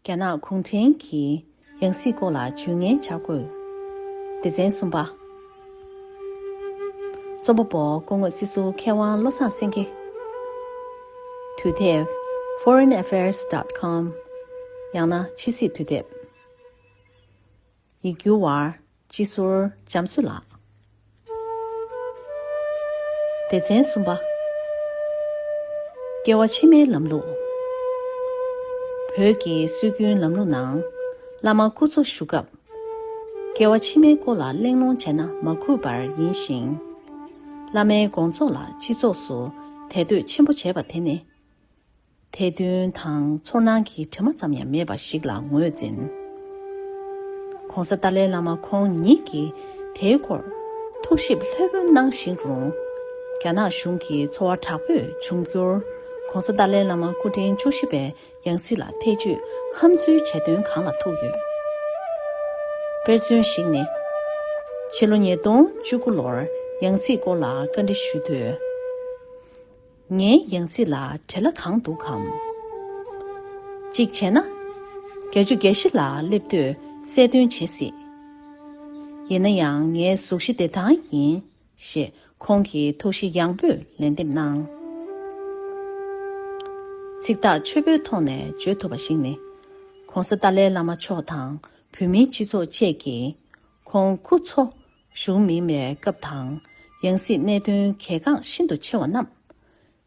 རྒྱ་ནག་གུང་ཁྲན་གྱིས་ཡང་སྲིད་སྐོར་ལ་ཇུས་ངན་འཆར་དགོས། སྡེ་ཚན་གསུམ་པ། རྩོམ་པ་པོ་སྐུ་ངོ་སྲིད་ཟུར་མཁས་དབང་བློ་བཟང་སེང་གེ། དུས་དེབ Foreign Affairs. com། ཡང་ན་ཕྱི་སྲིད་དུས་དེབ། ཡིག་སྒྱུར་བ། སྤྱི་ཟུར་འཇམ་བསུ་ལགས། སྡེ་ཚན་གསུམ་པ། སྐྱེ་བ་ཕྱི་མའི་ལམ་ལུགས། བོད་ཀྱི་སྲོལ་རྒྱུན་ལམ་ལུགས་ནང་བླ་མ་སྐུ་འཚོ་བཞུགས་སྐབས། སྐྱེ་བ་ཕྱི་མའི་སྐོར་ལ་གླེང་སློང་བྱས་ན་མ་གུས་པར་ཡིན་ཞིང། བླ་མའི་དགོངས་རྫོགས་ལ་སྤྱི་ཚོགས་སུ་དད་འདོད་ཆེན་པོ་བྱེད་པ་དེ་ནི། ཐལ་འདོན་དང་ཚོར་སྣང་གི་དྲི་མ་ཙམ་ཡང་མེད་པ་ཞིག་ལ་ངོས་འཛིན། གོང་ས་ཏཱ་ལའི་བླ་མ་ཁོང་ཉིད་ཀྱིས་དེའི་སྐོར་ཐུགས་ཞིབ་ལྷོད་པོ་གནང་བཞིན་རུང། རྒྱ་ནག་གཞུང་གི་ཚོར་བ་དྲག་པོས་འབྱུང་འགྱུར་གོང་ས་ཏཱ་ལའི་བླ་མ་སྐུ་ཕྲེང་བཅུ་བཞི་པའི་ཡང་སྲིད་ལ་ཐེ་ཇུས་ཧམ་འཛུལ་བྱེད་དོན་གང་ལ་ཐུག་ཡོད། དཔེར་མཚོན་ཞིག་ནི། ཕྱི་ལོ་ཉིས་སྟོང་བཅུ་དགུ་ལོར་ཡང་སྲིད་སྐོར་ལ་བཀའ་འདྲི་ཞུས་དུས། ངའི་ཡང་སྲིད་ལ་བྲེ་ལ་གང་འདུག་གམ། གཅིག་བྱས་ན། བརྒྱ་ཆུ་བརྒྱ་བཞི་ལ་སླེབས་དུས་གསལ་སྟོན་བྱེད་སྲིད། ཡིན་ན་ཡང་ངའི་གཟུགས་གཞི་བདེ་ཐང་ཡིན། ཞེས་ཁོང་གིས་ཐུགས་གཞི་ཡངས་པོས་ལན་འདེབས་གནང། ཚིག་ཐག་ཆོད་པོའི་ཐོག་ནས་བརྗོད་ཐུབ་པ་ཞིག་ནི། ྋགོང་ས་ཏཱ་ལའི་བླ་མ་མཆོག་དང་བོད་མིའི་སྤྱི་ཚོགས་བཅས་ཀྱིས་ཁོང་ཁུ་ཚོ་གཞུང་མིང་མེད་སྐབས་དང། ཡང་སྲིད་གནད་དོན་གལ་འགངས་ཤིན་ཏུ་ཆེ་བ་རྣམས།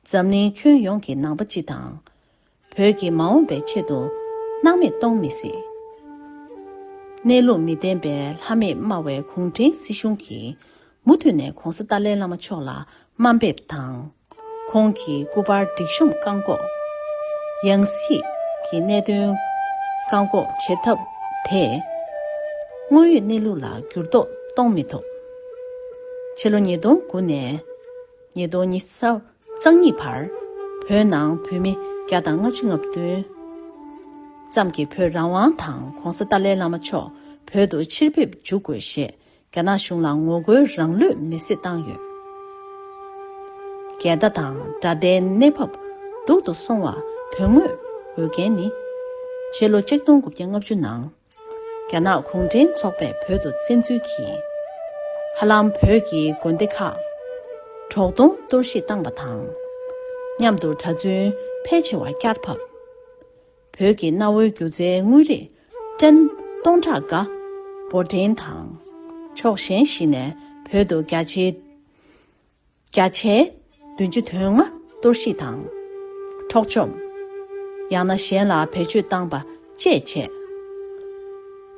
འཛམ་གླིང་ཁྱོན་ཡོངས་ཀྱི་ནང་པ་སྤྱི་དང། བོད་ཀྱི་མ་འོངས་པའི་ཆེད་དུ། སྣང་མེད་གཏོང་མི་སྲིད། གནས་ལུགས་མི་ལྡན་པའི་ལྷ་མེད་སྨྲ་བའི་གུང་ཁྲན་སྲིད་གཞུང་གིས། མུ་མཐུད་ནས་གོང་ས་ཏཱ་ལའི་བླ་མ་མཆོག་ལ་དམའ་འབེབས་དང། ཁོང་གི་སྐུ་པར་སྒྲིག་གཤོམ་བཀག་འགོག། ཡང་སྲིད་ཀྱི་གནད་དོན་བཀག་འགོག་བྱེད་ཐབས་དེས། དངོས་ཡོད་གནས་ལུགས་ལ་འགྱུར་ལྡོག་གཏོང་མི་ཐུབ། ཕྱི་ལོ་ཉིས་སྟོང་དགུ་ནས་ཉིས་སྟོང་ཉིས་གཙང་གཉིས་བར་བོད་ནང་བོད་མི་བརྒྱ་དང་ལྔ་བཅུ་ལྔ་བདུན་ཙམ་གྱིས་བོད་རང་དབང་དང ྋགོང་ས་ཏཱ་ལའི་བླ་མ་མཆོག་བོད་དུ་ཕྱིར་ཕེབས་འཇུག་དགོས་ཞེས་རྒྱ་ནག་གཞུང་ལ་ངོ་རྒོལ་རང་ལུས་མེ་བསྲེགས་བཏང་ཡོད། འགལ་ཟླ་དང་དགྲ་ཟླའི་གནས་བབ་སྡུག་ཏུ་སོང་བ་དོན་དངོས་འོས་འགན་ནི། ཕྱི་ལོ་ཆིག་སྟོང་དགུ་བརྒྱ་ལྔ་བཅུ་ནང་རྒྱ་ནག་གུང་ཁྲན་ཚོགས་པས་བོད་དུ་བཙན་འཛུལ་གྱིས། ཧ་ལམ་བོད་ཀྱི་དགོན་སྡེ་ཁག་གྲོག་སྟོང་གཏོར་བཤིག་བཏང་བ་དང། མཉམ་དུ་གྲྭ་བཙུན་ཕལ་ཆེ་བ་བསྐྱར་ཕབ། བོད་ཀྱི་གནའ་བོའི་སྒྱུ་རྩལ་དངོས་རིགས། བཀྲན། སྟོང་ཕྲག་འགའ། འབོར་འདྲེན་དང། ཕྱོགས་གཞན་བཞི་ནས་བོད་དུ་བརྒྱ་ཆའི། བརྒྱ་ཆའི། བདུན་ཅུ་དོན་ལྔ་གཏོར་བཤིག་དང། འཕྲོག་བཅོམ། ཡང་ན་གཞན་ལ་བེད་སྤྱོད་བཏང་པ་བཅས་བྱས།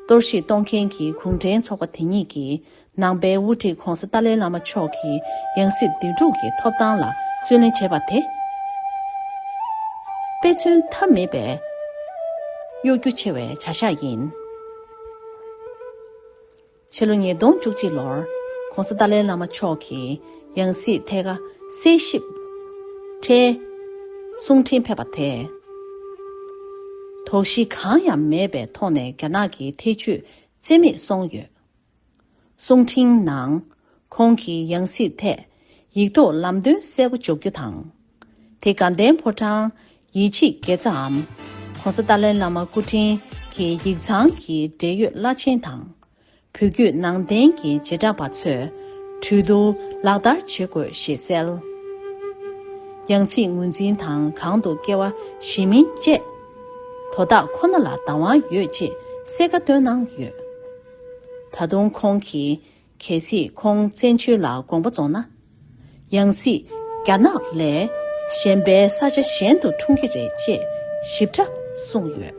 གཏོར་བཤིག་གཏོང་མཁན་གྱི་གུང་ཁྲན་ཚོགས་པ་དེ་ཉིད་ཀྱིས་ནང་པའི་དབུ་ཁྲིད ྋགོང་ས་ཏཱ་ལའི་བླ་མ་མཆོག་གིས་ཡང་སྲིད་འདེམས་སྒྲུག་གི་ཐོབ་ཐང་ལ་བརྩོན་ལེན་བྱས་པ་དེ། དཔེ་མཚོན་ཐབས་མེད་པའི་གཡོ་སྒྱུ་ཆེ་བའི་བྱ་གཞག་ཡིན། ཕྱི་ལོ་ཉིས་སྟོང་བཅུ་གཅིག་ལོར ྋགོང་ས་ཏཱ་ལའི་བླ་མ་མཆོག་གིས་ཡང་སྲིད་ཐད་ཀ་སྲིད་ཞིབ་ཁྲའི་གསུང་འཕྲིན་ཕེབས་པ་དེས། དོགས་གཞི་གང་ཡང་མེད་པའི་ཐོག་ནས་རྒྱ་ནག་གི་ཐེ་བྱུས་བརྩད་མེད་སོང་ཡོད། གསུང་འཕྲིན་ནང། ཁོང་གིས་ཡང་སྲིད་ཐད་ཡིག་ཐོག་ལམ་སྟོན་གསལ་པོ་འཇོག་རྒྱུ་དང། དེ་སྒང་ལྡན་ཕོ་བྲང་ཡིད་ཆེས་དགེ་རྩའམ། ྋགོང་ས་ཏཱ་ལའི་བླ་མ་སྐུ་ཕྲེང་གི་ཡིག་ཚང་གི་འབྲེལ་ཡོད་བླ་ཆེན་དང། བོད་བརྒྱུད་ནང་བསྟན་གྱི་བྱེ་བྲག་པ་ཚོས་གྲོས་བསྡུར་ལག་བསྟར་བྱེད་དགོས་ཞེས་གསལ། ཡང་སྲིད་ངོས་འཛིན་དང་གང་དུ་སྐྱེ་བ་གཞིས་མིན་བཅས་དོ་བདག་ཁོ་ན་ལ་བདག་དབང་ཡོད་ཅེས་གསལ་ཁ་བཏོན་གནང་ཡོད། ད་དུང་ཁོང་གིས་གལ་སྲིད་ཁོང་བཙན་བྱོལ་ལ་དགོངས་པ་རྫོགས་ན། ཡང་སྲིད་རྒྱ་ནག་ལས་གཞན་པའི་ས་ཆ་གཞན་དུ་འཁྲུངས་ཀྱི་རེད་ཅེས་ཞིབ་ཕྲ་གསུངས་ཡོད།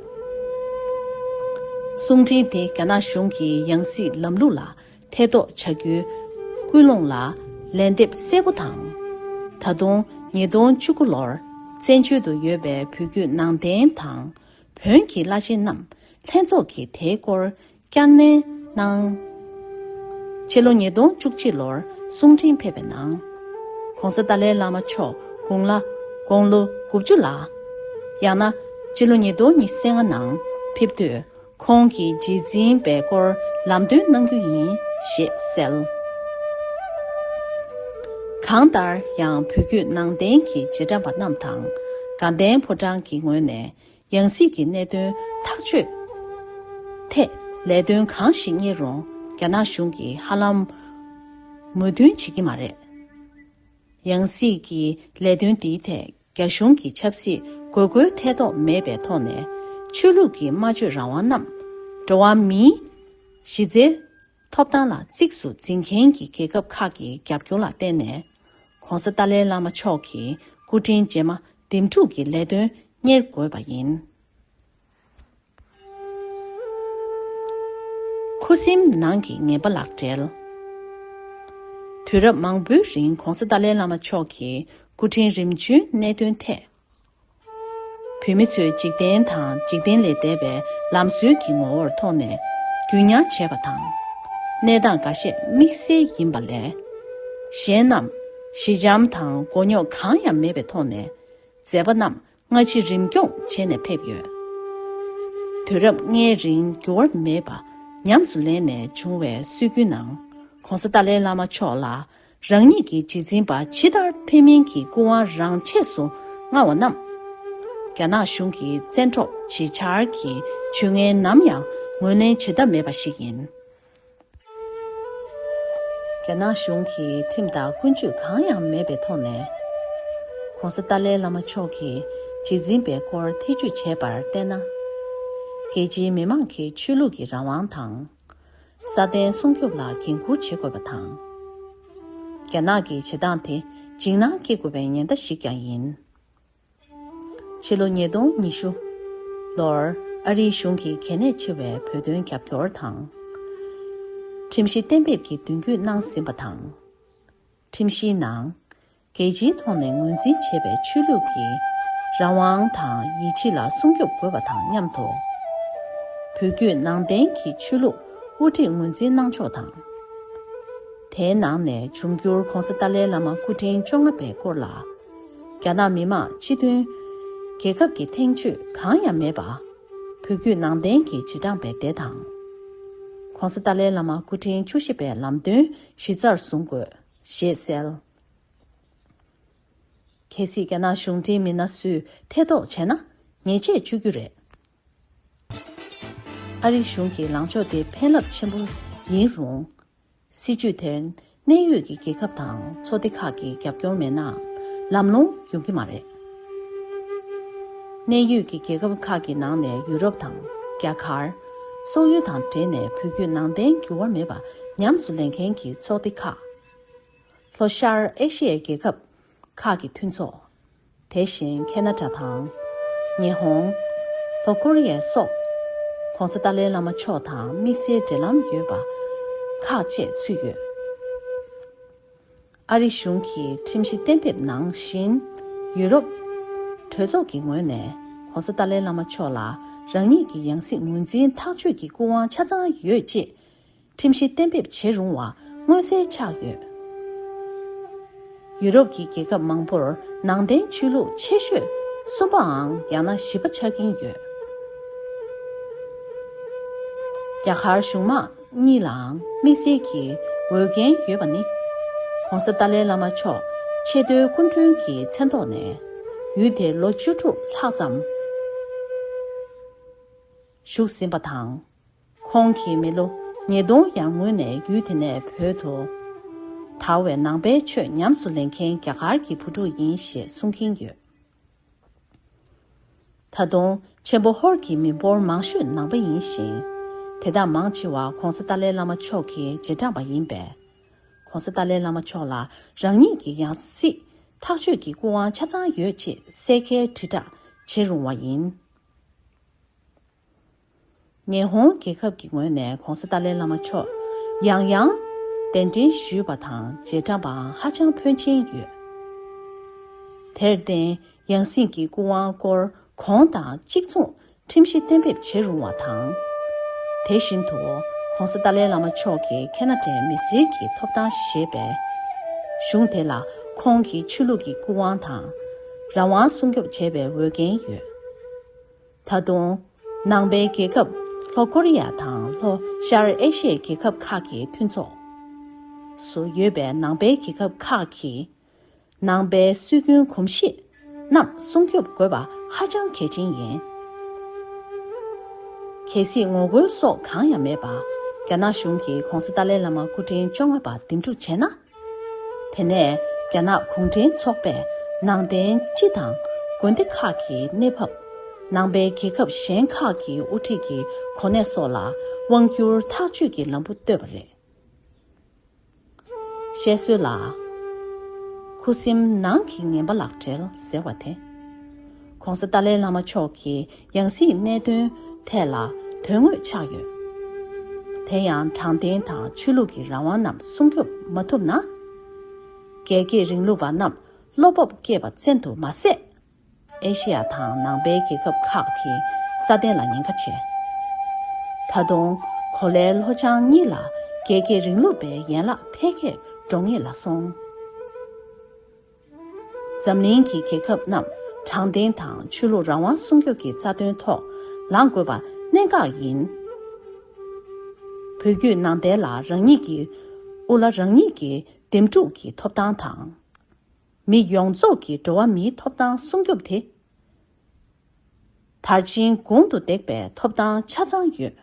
གསུང་འཕྲིན་དེ་རྒྱ་ནག་གཞུང་གི་ཡང་སྲིད་ལམ་ལུགས་ལ་ཐེ་གཏོགས་བྱ་རྒྱུའི་སྐུལ་སློང་ལ་ལན་འདེབས་གསལ་པོ་དང། ད་དུང་ཉིས་སྟོང་བཅུ་དགུ་ལོར་བཙན་བྱོལ་དུ་ཡོད་པའི་བོད་བརྒྱུད་ནང་བསྟན་དང་བོན་གྱི་བླ་ཆེན་རྣམས་ལྷན་ཚོགས་ཀྱིས་དེའི་སྐོར་བསྐྱར་ནན་གནང། ཕྱི་ལོ་ཉིས་སྟོང་བཅུ་གཅིག་ལོར་གསུང་འཕྲིན་ཕེབས་པའི་ནང། ྋགོང་ས་ཏཱ་ལའི་བླ་མ་མཆོག་དགུང་ལ་དགུང་ལོ་དགུ་བཅུ་ལ། ཡང་ན། ཕྱི་ལོ་ཉིས་སྟོང་ཉི་ཤས་ལྔ་ནང་ཕེབས་དུས་ཁོང་གི་རྗེས་འཛིན་པའི་སྐོར་ལམ་སྟོན་གནང་རྒྱུ་ཡིན་ཞེས་གསལ། གང་ལྟར་ཡང་བོད་བརྒྱུད་ནང་བསྟན་གྱི་རྗེས་འབྲང་པ་རྣམས་དང། དགའ་ལྡན་ཕོ་བྲང་གི་ངོས་ནས་ཡང་སྲིད་ཀྱི་གནད་དོན་ཐག་གཅོད་ཐད་ལས་དོན་གང་ཞིག་གཉེར་རུང་རྒྱ་ནག་གཞུང་གིས་ཧ་ལམ་མོས་མཐུན་བྱེད་ཀྱི་མ་རེད། ཡང་སྲིད་ཀྱི་ལས་དོན་འདིའི་ཐད་རྒྱ་གཞུང་གིས་ཆབ་སྲིད་དགོས་མཁོའི་ཐེ་གཏོགས་མེད་པའི་ཐོག་ནས་ཆོས་ལུགས་ཀྱི་སྨྲ་བརྗོད་རང་དབང་རྣམས་འགྲོ་བ་མིའི་གཞི་རྩའི་ཐོབ་ཐང་ལ་གཙིགས་སུ་འཛིན་མཁན་གྱི་རྒྱལ་ཁབ་ཁག་གི་རྒྱབ་སྐྱོར་ལ་བརྟེན་ནས། ྋགོང་ས་ཏཱ་ལའི་བླ་མ་མཆོག་གི་སྐུ་དྲིན་རྗེས་མ་འདེམས་སྒྲུག་གི་ལས་དོན་གཉེར་དགོས་པ་ཡིན། ཁུ་སིམ་ནང་གི་ངན་པ་ལག་སྦྲེལ། དུས་རབས་མང་པོའི་རིང ྋགོང་ས་ཏཱ་ལའི་བླ་མ་མཆོག་གི་སྐུ་དྲིན་རིམ་བྱོན་གནད་དོན་ཐད་བུད་མེད་ཚོས་འཇིག་རྟེན་དང་འཇིག་རྟེན་ལས་འདས་པའི་ལམ་སྲོལ་གྱི་ངོ་བོར་མཐོང་ནས་རྒྱུན་ཉར་བྱེད་པ་དང། གནས་སྟངས་འགའ་ཤས་དམིགས་བསལ་ཡིན་པ་ལས། གཞན་རྣམས་ཞི་འཇམ་དང་མགོ་རྙོག་གང་ཡང་མེད་པའི་ཐོག་ནས་མཛད་པ་རྣམས་སྔ་ཕྱི་རིམ་སྐྱོང་བྱས་ནས་ཕེབས་ཡོད། དུས་རབས་ལྔའི་རིང་འགྱུར་བ་མེད་པ་ཉམས་སུ་ལེན་ནས་བྱུང་བའི་སྲོལ་རྒྱུན་ནང ྋགོང་ས་ཏཱ་ལའི་བླ་མ་མཆོག་ལ་རང་ཉིད་ཀྱི་རྗེས་འཛིན་པ་ཕྱི་དར་ཕེན་མིན་གྱི་སྐུ་དབང་རང་ཆས་སུ་མངའ་བ་རྣམས། རྒྱ་ནག་གཞུང་གི་བཙན་འཕྲོག་བྱེད་འཆར་གྱི་བྱུས་ངན་ནམ་ཡང་ངོས་ལེན་བྱེད་ཐབས་མེད་པ་ཞིག་ཡིན། རྒྱ་ནག་གཞུང་གི་ཁྲིམས་དང་ཀུན་སྤྱོད་གང་ཡང་མེད་པའི་ཐོག་ནས། ྋགོང་ས་ཏཱ་ལའི་བླ་མ་མཆོག་གི་རྗེས་འཛིན་པའི་སྐོར་ཐེ་བྱུས་བྱས་པར་བལྟས་ན། རྒྱལ་སྤྱིའི་མི་མང་གི་ཆོས་ལུགས་ཀྱི་རང་དབང་དང། སྲ་བརྟན་སྲུང་སྐྱོབ་ལ་འགན་འཁུར་བྱེད་དགོས་པ་དང། རྒྱ་ནག་གི་བྱེད་སྟངས་དེ་འཇིགས་སྣང་སྐྱེ་དགོས་པའི་ཉེན་བརྡ་ཞིག་ཀྱང་ཡིན། ཕྱི་ལོ་ཉིས་སྟོང་ཉི་ཤུ། ལོར་ཨ་རིའི་གཞུང་གིས་གལ་གནད་ཆེ་བའི་བོད་དོན་རྒྱབ་སྐྱོར་དང། ཁྲིམས་གཞི་གཏན་འབེབས་ཀྱི་མདུན་སྐྱོད་གནང་ཟིན་པ་དང། ཁྲིམས་གཞིའི་ནང། རྒྱལ་སྤྱིའི་ཐོག་ནས་ངོས་འཛིན་བྱེད་པའི་ཆོས་ལུགས་ཀྱི་རང་དབང་དང་ཡིད་ཆེས་ལ་སྲུང་སྐྱོབ་དགོས་པ་དང་མཉམ་དུ། བོད་བརྒྱུད་ནང་བསྟན་གྱི་ཆོས་ལུགས་དབུ་ཁྲིད་ངོས་འཛིན་གནང་ཕྱོགས་དང། དེའི་ནང་ནས་འབྱུང་འགྱུར ྋགོང་ས་ཏཱ་ལའི་བླ་མ་སྐུ་ཕྲེང་བཅོ་ལྔ་པའི་སྐོར་ལ་རྒྱ་ནག་མི་དམངས་སྤྱི་མཐུན་རྒྱལ་ཁབ་ཀྱི་ཐེངས་བཅུ་གང་ཡང་མེད་པ། བོད་བརྒྱུད་ནང་བསྟན་གྱི་བྱེ་བྲག་པའི་སྡེ་དང། ྋགོང་ས་ཏཱ་ལའི་བླ་མ་སྐུ་ཕྲེང་བཅུ་བཞི་པའི་ལམ་སྟོན་གཞི་རྩར་བཟུང་དགོས་ཞེས་གསལ། གལ་སྲིད་རྒྱ་ནག་གཞུང་འབྲེལ་མི་སྣ་སུས་ཐེ་གཏོགས་བྱས་ན། ཉེས་ཆད་གཅོད་རྒྱུ་རེད། ཨ་རི་གཞུང་གི་ལངས་ཕྱོགས་དེ་ཕན་རླབས་ཆེན་པོ་ཡིན་རུང། སྲིད་ཇུས་དེར་གནད་ཡོད་ཀྱི་རྒྱལ་ཁབ་དང་ཚོགས་སྡེ་ཁག་གི་རྒྱབ་སྐྱོར་མེད་ན། ལམ་ལྷོང་ཡོང་གི་མ་རེད། གནད་ཡོད་ཀྱི་རྒྱལ་ཁབ་ཁག་གི་ནང་ནས་ཡུ་རོབ་དང་རྒྱ་གར། སོག་ཡུལ་དང་འབྲེལ་ནས་བོད་བརྒྱུད་ནང་བསྟན་འགྱུར་བ་མེད་པ་ཉམས་སུ་ལེན་མཁན་གྱི་ཚོགས་སྡེ་ཁག། ལྷོ་ཤར་ཨེ་ཤི་ཡའི་རྒྱལ་ཁབ་ཁག་གི་མཐུན་ཚོགས། དེ་བཞིན་ཁེ་ན་ཏྲ་དང། ཉི་ཧོང། ལྷོ་ཀོ་རི་ཡ་སོགས། ྋགོང་ས་ཏཱ་ལའི་བླ་མ་མཆོག་དང་དམིགས་བསལ་འབྲེལ་ལམ་ཡོད་པ་ཁག་བཅས་ཚུད་ཡོད། ཨ་རི་གཞུང་གི་ཁྲིམས་གཞི་གཏན་འབེབས་ནང་བཞིན། ཡུ་རོབ། གྲོས་ཚོགས་ཀྱི་ངོས་ནས ྋགོང་ས་ཏཱ་ལའི་བླ་མ་མཆོག་ལ་རང་ཉིད་ཀྱི་ཡང་སྲིད་ངོས་འཛིན་ཐག་གཅོད་ཀྱི་སྐུ་དབང་ཆ་ཚང་ཡོད་ཅེས་ཁྲིམས་གཞི་གཏན་འབེབས་བྱེད་རུང་བ་མངོན་གསལ་ཆགས་ཡོད། ཡུ་རོབ་ཀྱི་རྒྱལ་ཁབ་མང་པོར་ནང་བསྟན་ཆོས་ལུགས་ཆེ་ཤོས་གསུམ་པའང་ཡང་ན་བཞི་པ་ཆགས་ཀྱིན་ཡོད། རྒྱ་གར་གཞུང་དམངས་གཉིས་ལའང་དམིགས་བསལ་གྱི་འོས་འགན་ཡོད་པ་ནི། ྋགོང་ས་ཏཱ་ལའི་བླ་མ་མཆོག་ཆེས་མཐོའི་སྐུ་མགྲོན་གྱི་མཚན་ཐོག་ནས་ཡུལ་དེར་ལོ་བཅུ་དྲུག་ལྷག་ཙམ་བཞུགས་ཟིན་པ་དང། ཁོང་གིས་མི་ལོ་ཉིས་སྟོང་ཡར་སྔོན་ནས་ཡུལ་དེ་ནས་བོད་དུ་དར་བའི་ནང་པའི་ཆོས་ཉམས་སུ་ལེན་མཁན་རྒྱ་གར་གྱི་བུ་ཕྲུག་ཡིན་ཞེས་གསུང་གིན་ཡོད། ད་དུང་ཆེན་པོ་ཧོར་གྱི་མི་འབོར་མང་ཤོས་ནང་པ་ཡིན་ཞིང། དེ་དག་མང་ཆེ་བ་གོང་ས་ཏཱ་ལའི་བླ་མ་མཆོག་གི་རྗེས་འབྲངས་པ་ཡིན་པས། གོང་ས་ཏཱ་ལའི་བླ་མ་མཆོག་ལ་རང་ཉིད་ཀྱི་ཡང་སྲིད་ཐག་གཅོད་ཀྱི་སྐུ་དབང་ཆ་ཚང་ཡོད་ཅེས་གསལ་ཁའི་དྲིལ་བསྒྲགས་བྱེད་རུང་བ་ཡིན། ཉི་ཧོང་རྒྱལ་ཁབ་ཀྱི་ངོས་ནས་གོང་ས་ཏཱ་ལའི་བླ་མ་མཆོག་ཡང་ཡང་གདན་འདྲེན་ཞུས་པ་དང་རྗེས་འབྲངས་པའང་ཧ་ཅང་ཕོན་ཆེན་ཡོད། དེར་བརྟེན་ཡང་སྲིད་ཀྱི་སྐུ་དབང་སྐོར་གོང་དང་གཅིག་མཚུངས་ཁྲིམས་གཞི་གཏན་འབེབས་བྱེད་རུང་བ་དང། དེ་བཞིན་དུ་གོང་ས་ཏཱ་ལའི་བླ་མ་མཆོག་གིས་ཁེ་ན་ཏྲའི་མི་སེར་གྱི་ཐོབ་ཐང་ཞེས་པའི་གཞུང་དེ་ལ་ཁོང་གི་ཆོས་ལུགས་ཀྱི་སྐུ་དབང་དང་རང་དབང་སྲུང་སྐྱོབ་བྱས་པའི་འོས་འགན་ཡོད། ད་དུང། ནང་པའི་རྒྱལ་ཁབ་ལྷོ་ཀོ་རི་ཡ་དང་ལྷོ་ཤར་ཨེ་ཤི་ཡའི་རྒྱལ་ཁབ་ཁག་གི་མཐུན་ཚོགས་སུ་ཡོད་པའི་ནང་པའི་རྒྱལ་ཁབ་ཁག་གིས་ནང་པའི་སྲོལ་རྒྱུན་གོམས་གཤིས་རྣམས་སྲུང་སྐྱོབ་དགོས་པ་ཧ་ཅང་གལ་ཆེན་ཡིན། གལ་སྲིད་ངོ་རྒོལ་སོགས་གང་ཡང་མེད་པར་རྒྱ་ནག་གཞུང་གིས ྋགོང་ས་ཏཱ་ལའི་བླ་མ་སྐུ་ཕྲེང་བཅོ་ལྔ་པ་འདེམས་སྒྲུག་བྱས་ན། དེ་ནས་རྒྱ་ནག་གུང་ཁྲན་ཚོགས་པས་ནང་བསྟན་སྤྱི་དང་དགོན་སྡེ་ཁག་གི་གནས་བབ། ནང་པའི་རྒྱལ་ཁབ་གཞན་ཁག་གི་དབུ་ཁྲིད་ཀྱི་གོ་གནས་སོགས་ལ་དབང་བསྒྱུར་ཐག་གཅོད་ཀྱི་ལམ་བུ་བཏོད་པ་རེད། བཤད་སྲོལ་ལ། ཁུ་སིམ་ནང་གི་ངན་པ་ལག་བྲེལ་ཟེར་བ་དེ། ྋགོང་ས་ཏཱ་ལའི་བླ་མ་མཆོག་གི་ཡང་སྲིད་གནད་དོན་ཐད་ལ་དོན་དངོས་ཆགས་ཡོད། དེ་ཡང་དྲང་བདེན་དང་ཆོས་ལུགས་ཀྱི་རང་དབང་རྣམས་སྲུང་སྐྱོབ་མ་ཐུབ་ན། རྒྱལ་གཅེས་རིང་ལུགས་པ་རྣམས་བློ་སྤོབས་བསྐྱེད་པ་བཙན་དུ་མ་ཟད། ཨེ་ཤེ་ཡ་དང་ནང་པའི་རྒྱལ་ཁབ་ཁག་གི་སྲ་བརྟན་ལ་ཉེན་ཁ་ཆེ། ད་དུང་གོ་ལའི་ལྷོ་བྱང་གཉིས་ལ་རྒྱལ་གཅེས་རིང་ལུགས་པའི་ཡན་ལག་འཕེལ་རྒྱས་འགྲོ་ངེས་ལ་སོང། འཛམ་གླིང་གི་རྒྱལ་ཁབ་རྣམས་དྲང་བདེན་དང་ཆོས་ལུགས་རང་དབང་སྲུང་སྐྱོབ་ཀྱི་རྩ་དོན་ཐོག་ལངས་དགོས་པ་གནད་འགག་ཡིན། བོད་བརྒྱུད་ནང་བསྟན་ལ་རང་ཉིད་ཀྱི་དབུ་བླ་རང་ཉིད་ཀྱིས་འདེམས་སྒྲུག་གི་ཐོབ་ཐང་དང། མི་ཡོངས་རྫོགས་ཀྱི་འགྲོ་བ་མིའི་ཐོབ་ཐང་སྲུང་སྐྱོབ་དེ། དར་ཆེན་དགུང་དུ་འདེགས་པའི་ཐོབ་ཐང་ཆ་ཚང་ཡོད།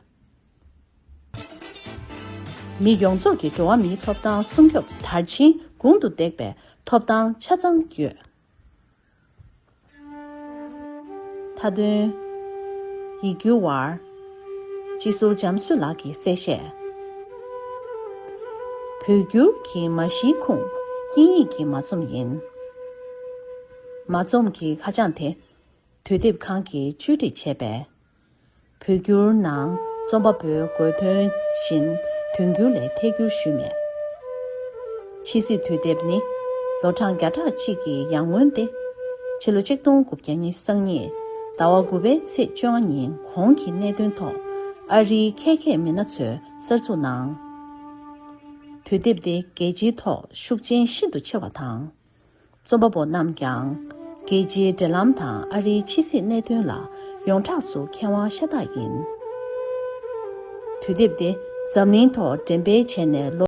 མི་ཡོངས་རྫོགས་ཀྱི་འགྲོ་བ་མིའི་ཐོབ་ཐང་སྲུང་སྐྱོབ་དར་ཆེན་དགུང་དུ་འདེགས་པའི་ཐོབ་ཐང་ཆ་ཚང་ཡོད། མཐའ་དོན། ཡིག་སྒྱུར་བ། སྤྱི་ཟུར་འཇམ་གསོས་ལགས་ཀྱིས་གསལ་བཤད། བོད་སྒྱུར་གྱི་མ་གཞིའི་ཁུངས་དབྱིན་ཡིག་གི་མ་རྩོམ་ཡིན། མ་རྩོམ་གྱི་ཁ་བྱང་དེ། དུས་དེབ་ཁང་གིས་བཅོས་སྒྲིག་བྱས་པས། བོད་བསྒྱུར་ནང་རྩོམ་པ་པོའི་དགོས་དོན་བཞིན་དོན་འགྱུར་ལས་ཐད་བསྒྱུར་ཞུས་མེད། ཕྱི་སྲིད་དུས་དེབ་ནི་ལོ་གྲངས་བརྒྱ་ཕྲག་གཅིག་གི་ཡར་སྔོན་ཏེ། ཕྱི་ལོ་གཅིག་སྟོང་དགུ་བརྒྱ་ཉིས་སང་ཉིད་ཟླ་བ་དགུ་པའི་ཚེས་བཅོ་ལྔ་ཉིན་གོང་གི་གནད་དོན་ཐོག་ཨ་རིའི་ཁལ་ཁེ་མི་སྣ་ཚོས་གསར་འཛུགས་གནང། དུས་དེབ་དེ་རྒྱལ་སྤྱིའི་ཐོག་ཤུགས་རྐྱེན་ཤིན་ཏུ་ཆེ་བ་དང། རྩོམ་པ་པོ་རྣམས་ཀྱང། རྒྱལ་སྤྱིའི་འབྲེལ་ལམ་དང་ཨ་རིའི་ཕྱི་སྲིད་གནད་དོན་ལ་ཡོངས་གྲགས་སུ་མཁས་དབང་ཤ་སྟག་ཡིན། དུས་དེབ་འདི་འཛམ་གླིང་ཐོག་འགྲེམས་སྤེལ་བྱས་ནས་ལོ།